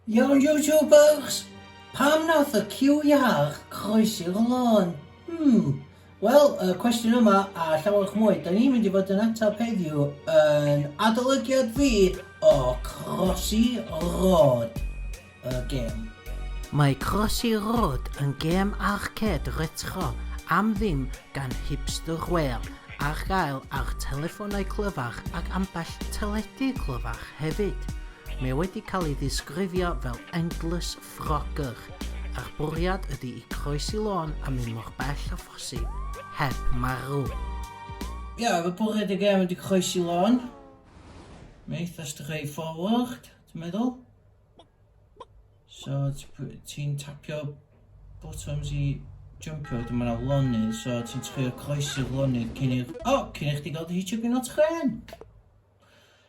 Iawn YouTubers! Pam nath y ciw iach croesi'r lôn? Hmm. Wel, y cwestiwn yma a llawerch mwy 'da ni'n mynd i fod yn atab heddiw yn adolygiad fi o Crossy Road, y gêm. Mae Crossy Road yn gêm arcêd retro am ddim gan Hipster Whale ar gael ar telefonau clyfar ac ambell teledu clyfar hefyd. Mae wedi cael ei ddisgrifio fel endless Frogger, a'r bwriad ydy i groesi lôn a mynd mor bell â phosib heb marw. Ia, fy bwriad i gêm ydy croesi lôn. Mae eitha straight forward, ti'n meddwl? So, ti'n tapio bottoms i jumpio, wedyn mae yna lonydd, so ti'n trio croesi'r lonydd cyn i'r... O! Cyn i chdi gael dy hitio gyn o tren!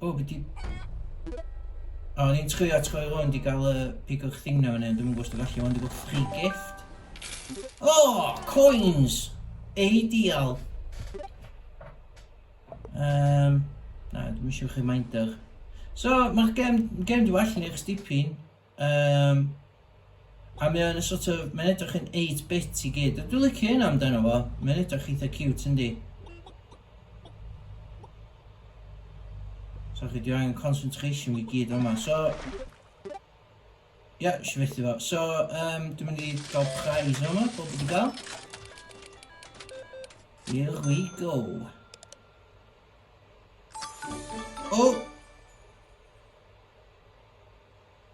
O, be 'di... O, o'n i'n chwilio at chwaer rŵan, 'di gael y pigwch thing na fyny, ond dwi'm yn gwybod os dwi'n gallu, ond dwi'n gweld free gift. O, coins! Ei dial! Um, na, dwi'n eisiau chi minder. So, mae'r gem, gem dwi'n allan i'r stipin. Um, a mae o'n sort of, mae'n edrych yn 8-bit i gyd. Dwi'n licio hynna amdano fo. Mae'n edrych eitha cute, yndi? So chi, dwi'n angen concentration fi gyd yma. So... Ia, eisiau fethu fo. So, um, dwi'n mynd i gael prize yma, bob wedi gael. Here we go. Oh!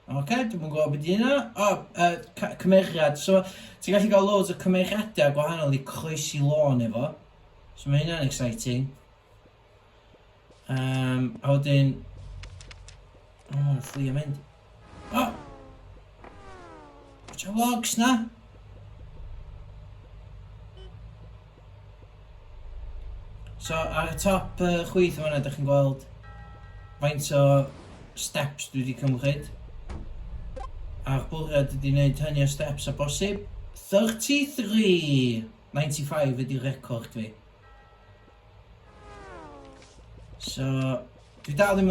Ok, dwi'm yn gwybod be 'di hynna. O, yy ca- cymeriad. So, ti'n gallu cael loads o cymeriadau gwahanol i croesi lôn efo. So mae hynna'n exciting. Um, a wedyn... O, oh, fflio mynd. O! Oh! Watch logs na! So ar y top uh, chwith yn fanna, da chi'n gweld faint o steps dwi wedi cymryd. A'r bwriad ydy wneud hynny o steps a bosib. 33.95 ydy'r record fi. So, dwi dal ddim...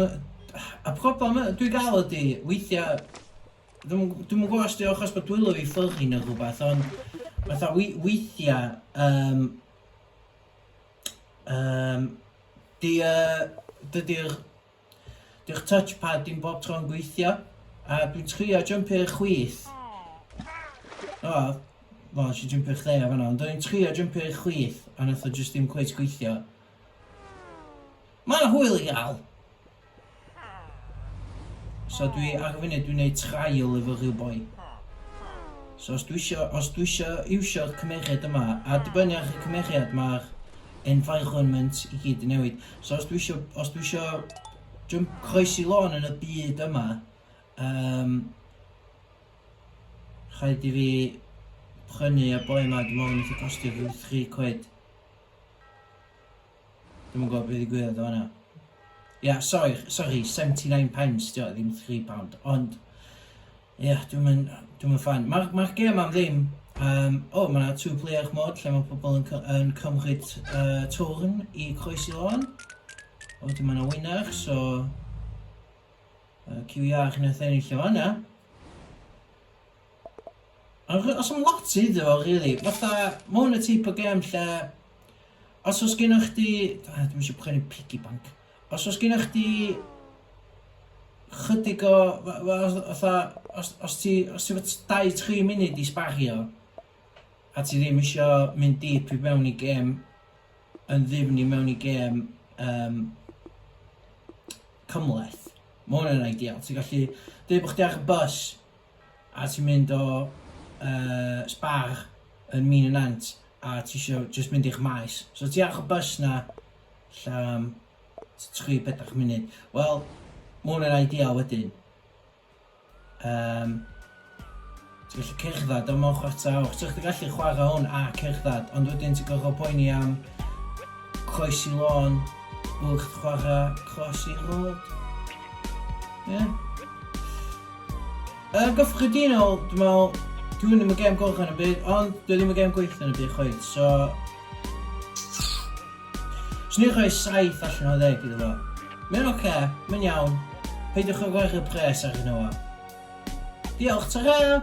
Y problem dwi gael ydy, weithiau Dwi'm yn gw- dwi'm yn gwbo os 'di o achos bod dwylo fi'n ffyddlin ne' rwbath ond fatha wei- weithia yym yym 'di yy dydi'r 'di'r touch pad dim bob tro'n gweithio a dwi'n trio jympio i'r chwith o wel nes i jympio i chdi yn fan'na ond o'n i'n trio jympio i'r chwith a nath o jyst dim cweit gweithio. Ma' 'na hwyl i ga'l! So dwi ar y funud dwi'n neud trial efo rhyw boi. So os dwi isio, os dwi isio iwsio'r cymeriad yma, a dibynnu ar y cymeriad mae'r environment i gyd yn newid. So os dwi isio, os dwi isio jump croesi lôn yn y byd yma, um, rhaid i fi prynu y boi yma, dwi'n meddwl yn eitha costio rhyw 3 quid. Dwi'm yn gwybod be ddigwyddodd yn fan'na. Ia, sori, sori, seventy nine pence 'di o, ddim three pound, ond ia, dwi'm yn, dwi'm yn ffan. Ma'r, ma'r gêm am ddim, um, o, oh, mae two player mod lle mae pobl yn, yn cymryd uh, twrn i croesi lôn. O, wedyn mae yna winner, so... Uh, QER yn ennill o fan'na. Ond os am lot iddo fo rili, fatha ma' hwn y teip o gêm lle os oes gennych chdi, ah dwi'm isio poeni piggy bank, os oes gennych chdi ychydig o f- f- fatha os os ti os ti efo t- dau tri munud i sbario a ti ddim isio mynd deep i mewn i gêm yn ddyfn i mewn i gêm yym cymhleth, ma' hwn yn ideal, ti'n gallu deud bod chdi ar y bws, a ti'n mynd o yy Spar yn Mîn y Nant a ti isio jyst mynd i'ch maes. So ti ar y bus 'na ella am tri bedwar munud. Wel, ma' hwnna'n ideal wedyn. Yym ti'n gallu cerdded o mewn chwarter awr. So chdi gallu chwarae hwn a cerdded, ond wedyn ti'n gorfod poeni am croesi lôn wrth chwarae croesi rôd. Ie? Yeah. Yn gyffredinol, dwi'n meddwl, dwi ddim yn gêm goch yn y byd, ond dwi ddim yn gêm gweithio yn y byd chweith, so... Swn i'n rhoi 7 allan o 10 iddo fo. Mae'n oce, okay, mae'n iawn, peidiwch o gwerthu pres ar hyn o fo. Diolch, ta-ra!